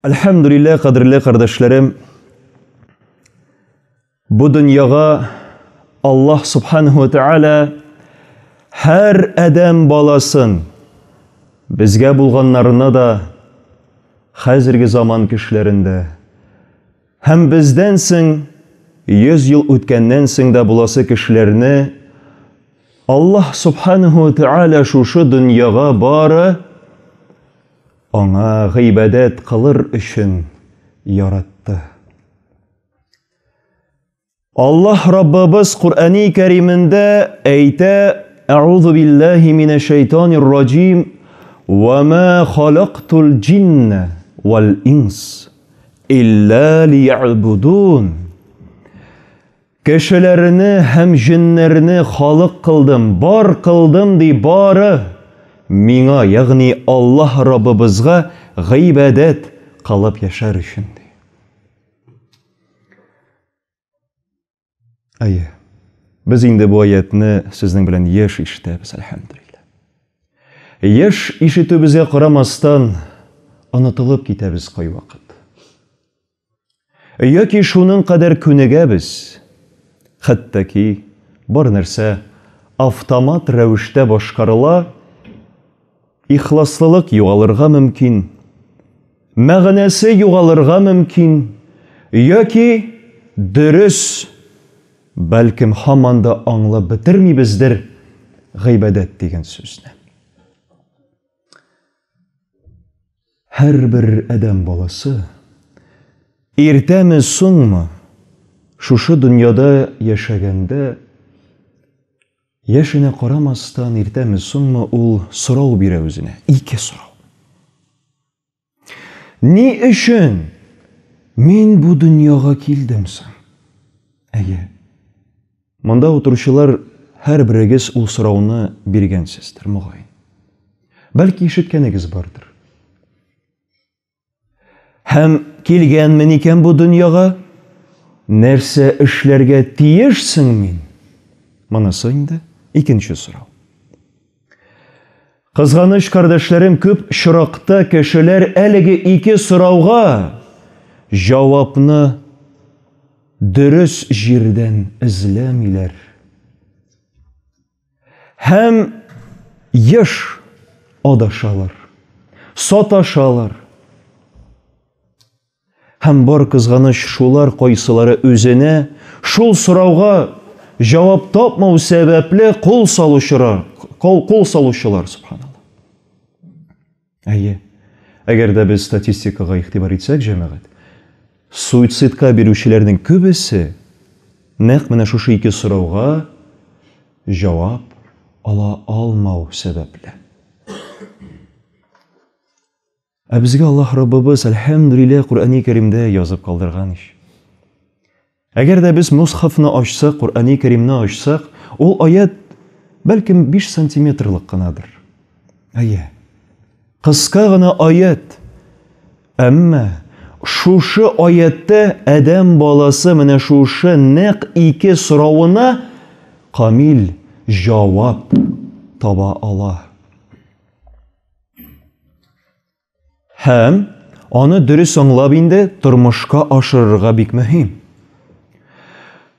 Әлхәмдүлиллә, кадерле кардәшләрем, бу дөньяга Аллаһ Субханаһу ва Тааля һәр адәм баласын безгә булганнарына да хәзерге заман кешеләрендә Һәм бездән соң, йөз ел үткәннән соң да буласы кешеләрне Аллаһ Субханәһү вә Тәгалә шушы дөньяга бары Аңа гыйбадәт кылыр өчен яратты. Аллаһ Раббыбыз Куръәни Кәримендә әйтә: "Әгъузу биллаһи минәш шәйтанир раҗим, ва ма халактул җинна вал инс илля лиябудун". Кешеләрне һәм җеннәрне халык кылдым, бар кылдым ди бары миңа, ягъни Аллаһ Раббыбызга гыйбадәт кылып яшәр өчен ди. Әйе. Без инде бу аятны сезнең белән еш ишетәбез, әлхәмдулилла. Еш ишетүебезгә карамастан, онытылып китәбез кайвакыт. Яки шуның кадәр күнегәбез, хәтта ки бар нәрсә автомат рәвештә башкарыла, Ихласлылык югалырга мөмкин, мәгънәсе югалырга мөмкин, яки дөрес, бәлкем, һаман да аңлап бетермибездер гыйбадәт дигән сүзне. Һәрбер адәм баласы иртәме, соңмы шушы дөньяда яшәгәндә Яшенә карамастан, иртәме-соңмы ул сорау бирә үзенә, ике сорау. Ни өчен мин бу дөньяга килдем соң? Әйе. Монда утыручылар һәрберегез ул сорауны биргәнсездер, мөгаен. Бәлки ишеткәнегез бардыр. Һәм килгәнмен икән бу дөньяга, нәрсә эшләргә тиешсең мин? Монысы инде икенче сорау. Кызганыч, кардәшләрем, күп чоракта кешеләр әлеге ике сорауга җавапны дөрес җирдән эзләмиләр. Һәм еш адашалар, саташалар. Һәм бар кызганыч шулар кайсылары үзенә шул сорауга җавап тапмау сәбәпле кул салучылар, кол кол салучылар субханалла. Әйе. Әгәр дә без статистикага игътибар итсәк, җәмәгать, суицидка бирүчеләрнең күбесе нәкъ менә шушы ике сорауга җавап ала алмау сәбәпле. Ә безгә Аллаһ Раббыбыз, әлхәмдүлилләһ, Коръәни Кәримдә язып калдырган ич. Әгәр дә без Мосхафны ачсак, Коръәни Кәримне ачсак, ул аять, бәлкем, биш сантиметрлык кынадыр. Әйе, кыска гына аять. Әмма шушы аятта адәм баласы менә шушы нәкъ ике соравына камил җавап таба ала. Һәм аны дөрес аңлап инде тормышка ашырырга бик мөһим.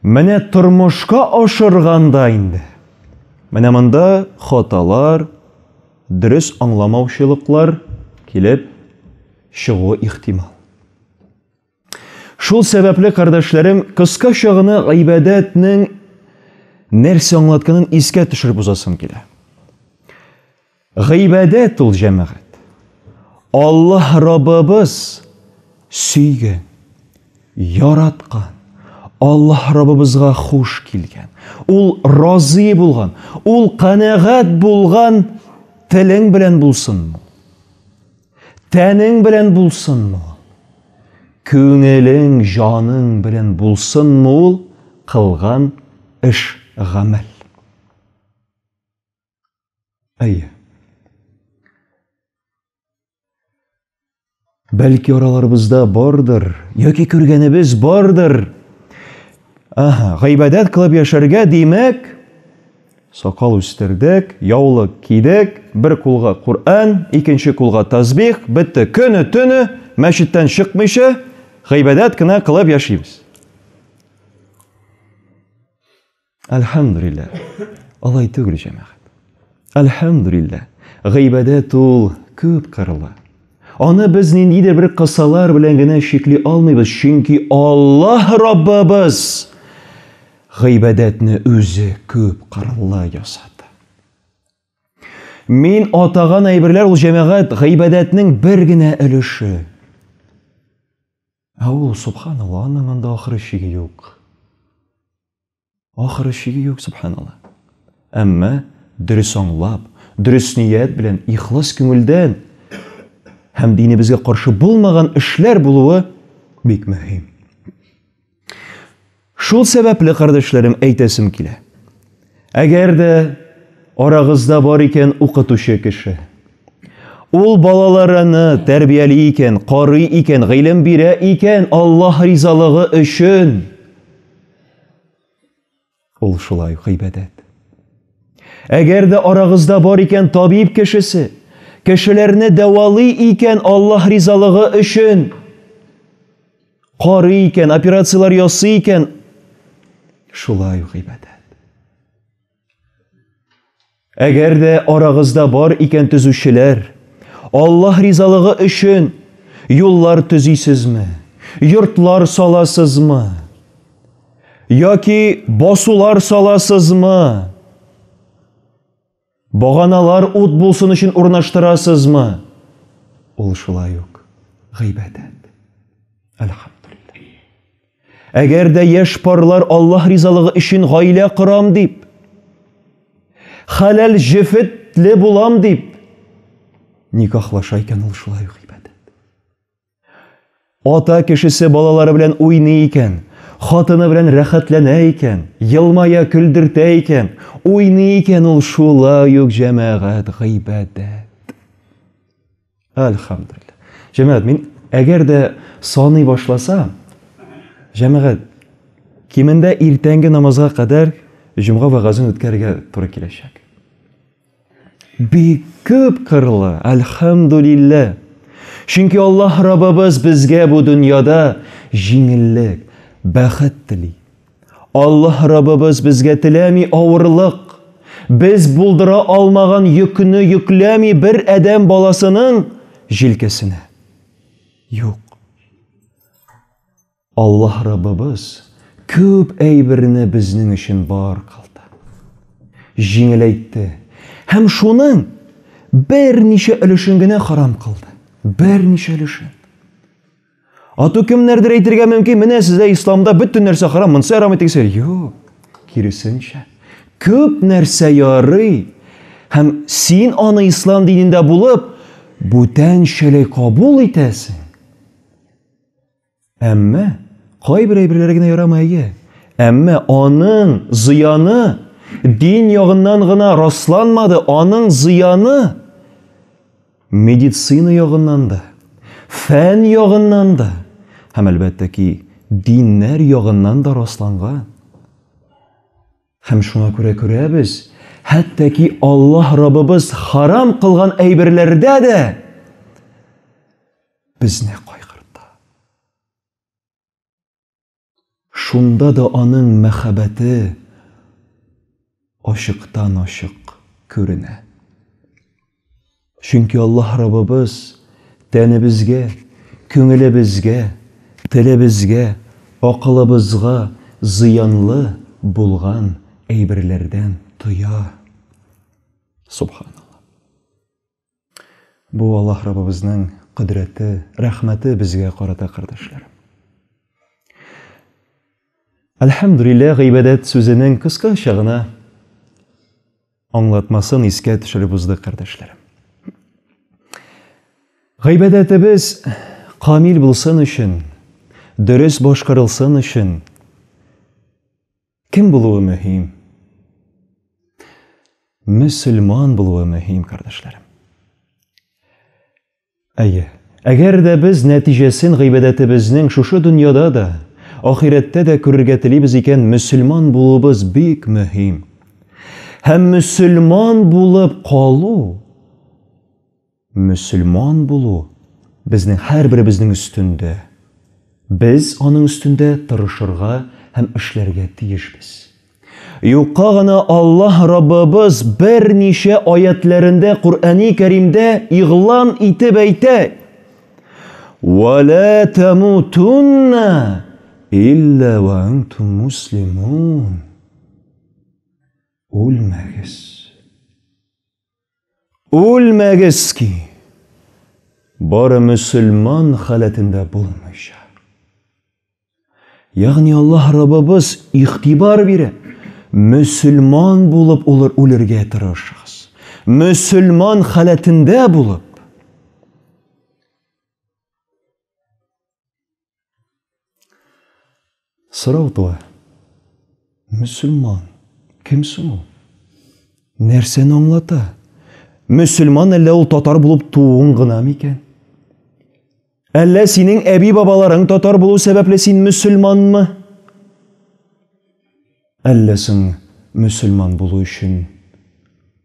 Менә тормышка ашырганда инде. Менә монда хаталар, дөрес аңламаучылыклар килеп чыгуы ихтимал. Шул сәбәпле, кардәшләрем, кыскача гына гыйбадәтнең нәрсә аңлатканын искә төшереп узасым килә. Гыйбадәт ул җәмәгать. Аллаһ Раббыбыз сөйгән, яраткан, Аллаһ Раббыбызга хуш килгән, ул разый булган, ул канәгать булган телең белән булсын. Тәнең белән булсынмы ул? Күңелең, җаның белән булсынмы ул кылган эш, гамәл? Әйе. Бәлки араларыбызда бардыр, яки күргәнебез бардыр. Аһа, гыйбадәт кылып яшәргә, димәк, Сакал үстердек, яулык кидек, бер кулга Коръән, икенче кулга тәсбих, бетте, көне-төне мәчеттән чыкмыйча, гыйбадәт кенә кылып яшибез. Әлхәмдүлилләһ. Алай түгел, җәмәгать. Әлхәмдүлилләһ. Гыйбадәт ул күп кырлы. Аны без ниндидер бер кысалар белән генә чикли алмыйбыз, чөнки Аллаһ Раббыбыз Гыйбадәтне үзе күп кырлы ясады. Мин атаган әйберләр ул җәмәгать гыйбадәтнең бер генә өлеше. Ә ул, субханалла, аның анда ахыры чиге юк. Ахыры чиге юк, субханалла. Әмма дөрес аңлап, дөрес ният белән, ихлас күңелдән һәм динебезгә каршы булмаган эшләр булуы бик мөһим. Шул сәбәпле, кардәшләрем, әйтәсем килә. Әгәр дә арагызда бар икән укытучы кеше, ул балаларыны тәрбияли икән, карый икән, гыйлем бирә икән, Аллаһ ризалыгы өчен, Ул шулай ук гыйбадәт. Әгәр дә арагызда бар икән табиб кешесе, кешеләрне дәвалый икән Аллаһ ризалыгы өчен, карый икән, операцияләр ясый икән, шулай ук гыйбадәт. Әгәр дә арагызда бар икән төзүчеләр, Аллаһ ризалыгы өчен юллар төзисезме, йортлар саласызмы? Яки басулар саласызмы? Баганалар ут булсын өчен урнаштырасызмы? Ул шулай ук гыйбадәт. Әлхәмдулиллаһ. Әгәр дә яшь парлар Аллаһ ризалыгы өчен гаилә корам дип, хәләл җефетле булам дип никахлаша икән, ул шулай ук ибадәт. Ата кешесе балалары белән уйный икән, хатыны белән рәхәтләнә икән, елмая, көлдертә икән, уйный икән, ул шулай ук җәмәгать гыйбадәт. Әлхәмдулилла. Җәмәгать, мин әгәр дә саный башласа, җәмәгать, кимендә иртәнге намазга кадәр җомга вәгазен үткәрергә туры киләчәк. Бик күп кырлы, әлхәмдулилла. Чөнки Аллаһ Раббыбыз безгә бу дөньяда җиңеллек, бәхет тели. Аллаһ Раббыбыз безгә теләми авырлык, без булдыра алмаган йөкне йөкләми бер адәм баласының җилкәсенә. Юк. Аллаһ Раббыбыз күп әйберне безнең өчен бар кылды. Җиңеләйтте һәм шуның берничә өлешен генә харам кылды. Берничә өлешен. Ату кемнәрдер әйтергә мөмкин, менә сездә исламда бөтен нәрсә харам, монсы әрам итегез. Юк, киресенчә. Күп нәрсә ярый. Һәм син аны ислам динендә булып, бүтәнчәләй кабул итәсең. Әмма кайбер әйберләр генә ярамый, әйе. Әмма аның зыяны дин ягыннан гына расланмады, аның зыяны Медицина ягыннан да, фән ягыннан да һәм, әлбәттә ки, диннәр ягыннан да расланган. Һәм шуңа күрә күрәбез, хәтта ки Аллаһ Раббыбыз харам кылган әйберләрдә дә безне кайгырта. Шунда да аның мәхәббәте ачыктан-ачык күренә. Чөнки Аллаһ Раббыбыз тәнебезгә, күңелебезгә, телебезгә, акылыбызга зыянлы булган әйберләрдән тыя. Субханаллаһ. Бу Аллаһ Раббыбызның кодрәте, рәхмәте безгә карата, кардәшләр. Әлхәмдүлилләһ гыйбадәт сүзенең кыскача гына аңлатмасын искә төшереп уздык, кардәшләрем. Гыйбадәтебез камил булсын өчен, дөрес башкарылсын өчен, Кем булуы мөһим? Мөселман булуы мөһим, кардәшләрем. Әйе, әгәр дә без нәтиҗәсен гыйбадәтебезнең шушы дөньяда да, ахирәттә дә күрергә телибез икән, мөселман булуыбыз бик мөһим. Һәм мөселман булып калу Мөселман булу безнең һәрберебезнең өстендә. Без аның өстендә тырышырга һәм эшләргә тиешбез. Юкка гына Аллаһ Раббыбыз берничә аятьләрендә Коръәни Кәримдә игълан итеп әйтә, Вә лә тәмүтүннә илля вә әнтүм муслимун. Үлмәгез. Үлмәгез ки! Бары мөселман халәтендә булмыйча. Ягъни Аллаһ Раббыбыз игътибар бирә. Мөселман булып улыр үлергә тырышыгыз. Мөселман халәтендә булып. Сорау туа. Мөселман кем соң ул? Нәрсәне аңлата? Мөселман әллә ул татар булып тууың гына микән? Әллә синең әби-бабаларың татар булу сәбәпле син мөселманмы? Әллә соң мөселман булу өчен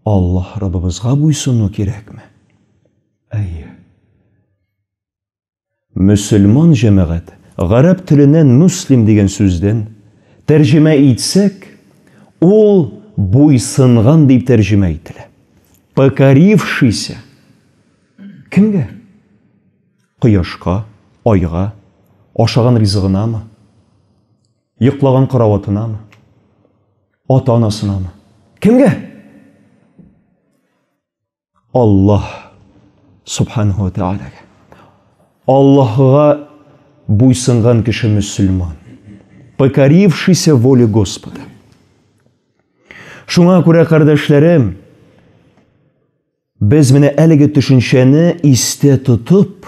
Аллаһ Раббыбызга буйсыну кирәкме? Әйе. Мөселман җәмәгать, гарәп теленнән муслим дигән сүздән, тәрҗемә итсәк, ул буйсынган дип тәрҗемә ителә. Покорившийся. Кемгә? Кояшка, айга, ашаган ризыгынамы? Йоклаган караватынамы? Ата-анасынамы? Кемгә? Аллаһ субханәһу ва тәгаләгә. Аллаһыга буйсынган кеше мөселман. Покорившийся воле Господа. Шуңа күрә, кардәшләрем, без менә әлеге төшенчәне истә тотып,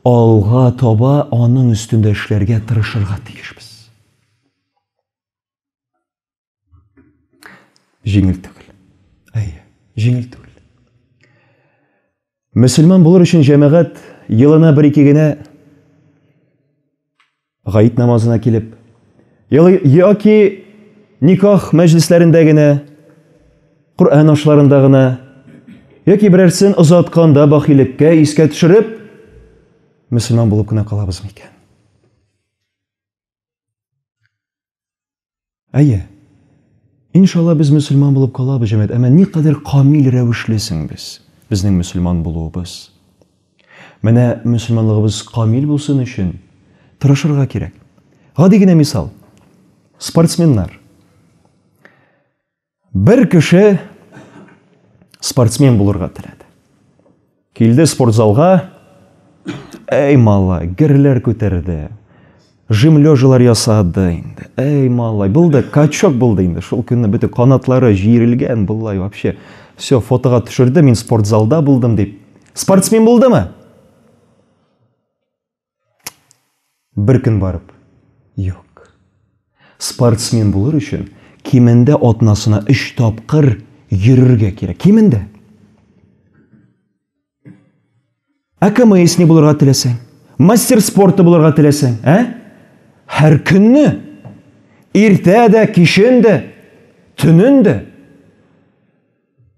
алга таба аның өстендә эшләргә тырышырга тиешбез. Җиңел түгел. Әйе, җиңел түгел. Мөселман булыр өчен җәмәгать елына бер ике генә гаит намазына килеп, яки никах мәҗлесләрендә генә, Коръән ашларында гына, яки берәрсен озатканда бахилеккә искә төшереп, мөселман булып кына калабыз микән? Әйе. Иншалла без мөселман булып калабыз, җәмәт. Әмма никадәр камил рәвешле соң без, безнең мөселман булуыбыз. Менә мөселманлыгыбыз камил булсын өчен тырышырга кирәк. Гади генә мисал. Спортсменнар. Бер кеше спортсмен булырга теләде. Килде спортзалга, әй малай, герләр күтәрде, жим лежалар ясады инде. Әй малай, булды, качок булды инде. Шул көнне бөтен канатлары җиерелгән, булай вообще. Все, фотога төшерде, мин спортзалда булдым дип. Спортсмен булдымы? Бер көн барып, юк. Спортсмен булыр өчен кимендә атнасына 3 тапкыр йөрергә кирәк. Кимендә. Ә КМС не булырга теләсәң? Мастер спорты булырга теләсәң, ә? Һәр көнне иртә дә, кичен дә, төнен дә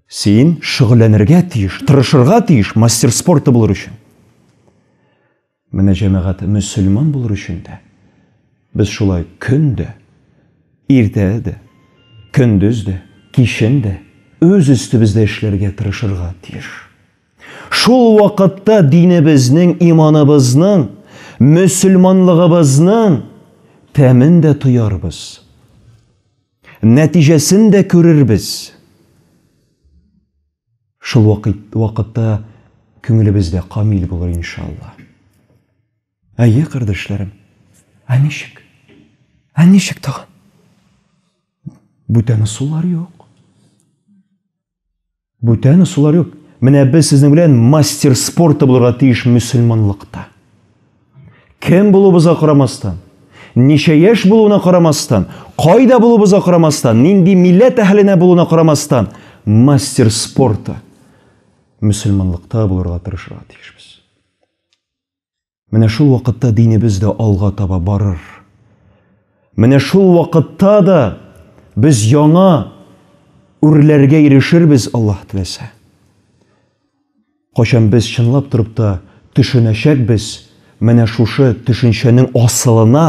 Син шөгыльләнергә тиеш, тырышырга тиеш мастер спорта булыр өчен. Менә җәмәгать мөселман булыр өчен дә без шулай көн дә, иртә дә, көндез дә, кичен дә үз өстебездә эшләргә тырышырга тиеш. Шул вакытта динебезнең, иманыбызның, мөселманлыгыбызның тәмен дә тоярбыз. Нәтиҗәсен дә күрербез. Шул вакытта күңелебез дә камил булыр, иншалла. Әйе, кардәшләрем. Ә ничек? Ә ничек тагын? Бүтән ысуллар юк. Бүтән ысуллар юк. Менә без сезнең белән мастер спорта булырга тиеш мөселманлыкта. Кем булуыбызга карамастан, ничә яшь булуына карамастан, кайда булуыбызга карамастан, нинди милләт әһленә булуына карамастан, мастер спорта мөселманлыкта булырга тырышырга тиешбез. Менә шул вакытта динебез дә алга таба барыр. Менә шул вакытта да без яңа үрләргә ирешербез, Аллаһ теләсә. Кайчан без чынлап торып та төшенәчәкбез менә шушы төшенчәнең асылына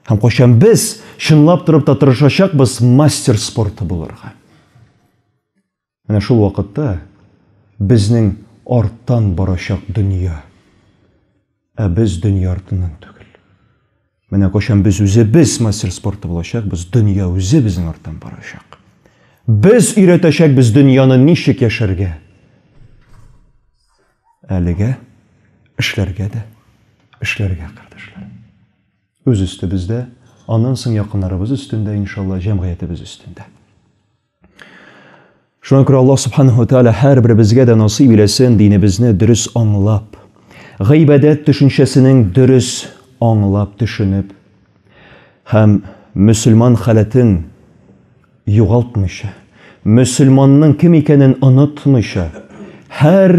һәм кайчан без чынлап торып та тырышачакбыз мастер спорты булырга. Менә шул вакытта безнең арттан барачак дөнья, ә без дөнья артыннан түгел. Менә кайчан без үзебез мастер спорты булачакбыз, дөнья үзе безнең арттан барачак. Без өйрәтәчәкбез дөньяны ничек яшәргә. Әлегә эшләргә дә, эшләргә, кардәшләр. Үз өстебездә, аннан соң якыннарыбыз өстендә, иншалла, җәмгыятебез өстендә. Шуңа күрә Аллаһ Субханаһу ва Тааля һәрберебезгә дә насыйп иләсен динебезне дөрес аңлап, гыйбадәт төшенчәсенең дөрес аңлап төшенеп һәм мөселман халәтен югалтмыйча, мөселманның кем икәнен онытмыйча, һәр